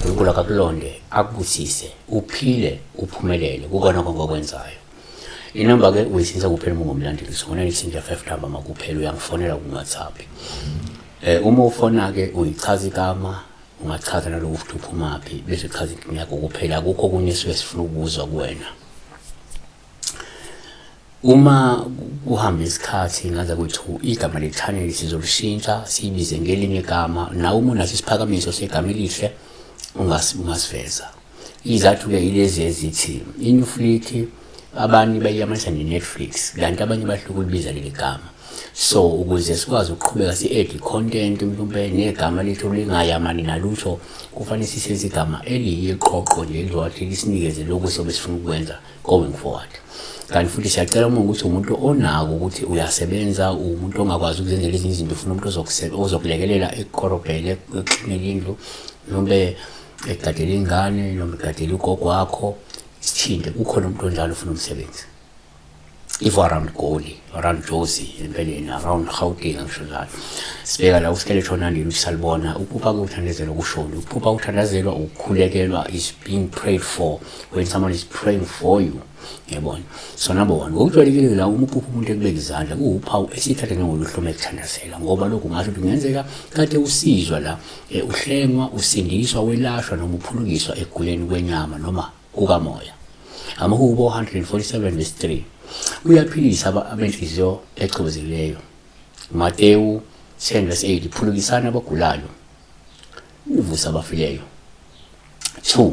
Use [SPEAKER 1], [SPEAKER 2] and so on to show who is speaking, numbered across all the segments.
[SPEAKER 1] uNkulunkulu akakulonde akubusise uphile uphumelele kukona konke okwenzayo inamba ke uyisinsa kuphela uma ungumlandeli sifonela isinja 5 number makuphela uyangifonela ku WhatsApp eh uma ufona ke uyichaza igama ungachaza naloku futhi uphumaphi bese chaza inkinga yakho kuphela akukho okunye esuke sifuna ukuzwa kuwena uma kuhamba isikhathi ngaza kwethu igama le-channel sizolishintsha siyibize ngelinye igama nawe uma unaso isiphakamiso segama elihle ungasiveza Izathu-ke yilezi ezithi iNewfleet abanye bayiyamanisa ne-Netflix kanti abanye bahlukulubiza ukulibiza leli gama so ukuze sikwazi ukuqhubeka si-add content mhlawumbe negama lethu lingayamani nalutho kufanele sisenze igama eliyiqoqo nje elizowathi lisinikeze lokhu sobe sifuna ukwenza going forward kanti futhi siyacela uma ukuthi umuntu onako ukuthi uyasebenza umuntu ongakwazi ukuzenzela ezinye izinto ufuna umuntu ozokulekelela ekukorobhele ekuxinele indlu mhlawumbe egadele ingane noma egadele ugogo wakho isithinde kukhona umuntu onjalo ufuna umsebenzi if around goli around josi empeleni around gauteng angisho njalo sibeka la usikele shona ndini usalibona ukuba kuthandazelwa kushoni ukuba kuthandazelwa ukukhulekelwa is being prayed for when someone is praying for you yabona sona bona ngokujwayelekile la uma uphupha umuntu ekubeka izandla kuwuphawu esithatha njengoluhlu uma ekuthandazela ngoba lokhu ngasho ukuthi kungenzeka kade usizwa la eh, uhlengwa usindiswa welashwa noma uphulukiswa ekuguleni kwenyama noma kukamoya amahubo 147 verse 3 uyaphilisa abenhliziyo echobezekileyo matewu 10 verse 8 phulukisana abagulayo uvusa abafileyo 2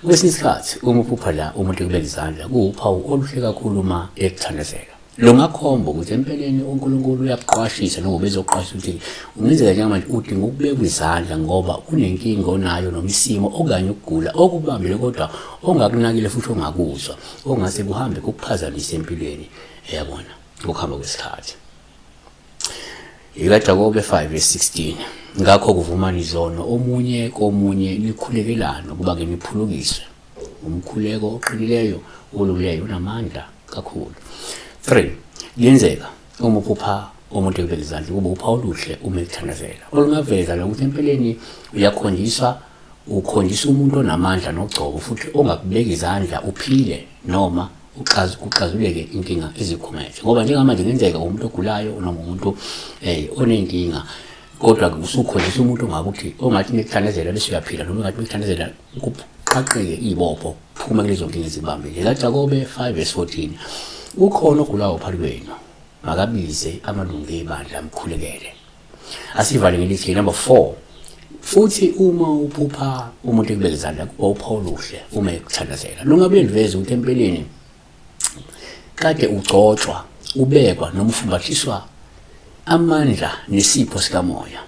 [SPEAKER 1] kwesinye isikhathi uma uphupha la umuntu ekubeka izandla kuwuphawu oluhle kakhulu uma ekuthandazela lo ngakhomba ukuthi empeleni unkulunkulu uyakuqwashisa noma ubezokuqwashisa ukuthi ungenzeka njengamanje udinga ukubekwa izandla ngoba kunenkinga onayo noma isimo okanye ukugula okubambile kodwa ongakunakile futhi ongakuzwa okungase kuhambe kukuphazamise empilweni yabona ngokuhamba kwesikhathi ikaJakobe 5:16 ngakho kuvumani izono omunye komunye nikhulekelane ukuba ke niphulukiswe umkhuleko oqinileyo olungileyo unamandla kakhulu 3 lenzeka uma uphupha umuntu ekubeka izandla ukuba upha oluhle uma ekuthandazela olungaveza lokuthi empeleni uyakhonjiswa ukhonjisa umuntu onamandla nogcobo futhi ongakubeki izandla uphile noma uxaz uxazuleke inkinga izikhumethe ngoba njengamanje kungenzeka umuntu ogulayo noma umuntu eh onenkinga kodwa usukhonjisa umuntu ngabe uthi ongathi nithandezela bese uyaphila noma ngathi nithandezela kuqaqeke ibopho phuma kulezo nkinga ezibambile ekaJakobe 5 verse 14 ukhona ogulayo phakathi kwenu makabize amalungu ebandla amkhulekele asivale ngelithi ke number 4 futhi uma uphupha umuntu ekubeka izandla kuba upha oluhle uma ekuthandazela lungabe ndiveze ukuthi empeleni kade ugcotshwa ubekwa noma ufumbathiswa amandla nesipho sikamoya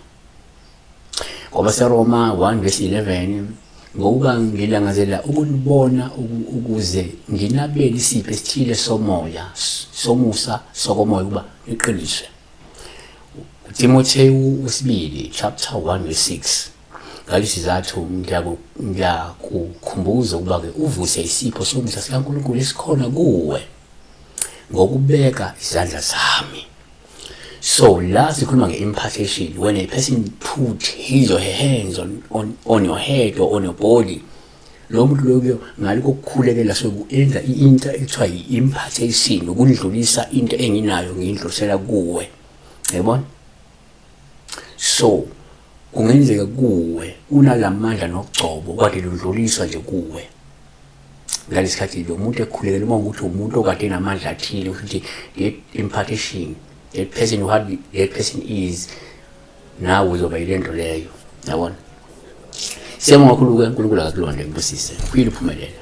[SPEAKER 1] ngoba seroma 1 verse 11 ngokuba ngilangazela ukunibona ukuze nginabele isipho esithile somoya somusa sokomoya ukuba niqiniswe Timothewu wesibili chapter 1 verse 6 ngalesizathu ngiyakukhumbuza ukuba ke uvuse isipho sokudla sikaNkulunkulu esikhona kuwe ngokubeka izandla zami so la sikhuluma nge-impartation when a person put his or her hands on, on, on your head or on your body lo muntu loyo ngale kokukhulekela sokuyenza into ekuthiwa yi-impartation ukundlulisa into enginayo ngiyindlulisela kuwe yabona so kungenzeka kuwe unalamandla nokugcobo kade ludluliswa nje kuwe ngalesikhathi lo muntu ekhulekela uma ukuthi umuntu okade enamandla athile ukuthi that impartation that person who had that person is nawe uzoba yile nto leyo yabona siyabonga kakhulu ke unkulunkulu akakulonde ngibusise uphile uphumelela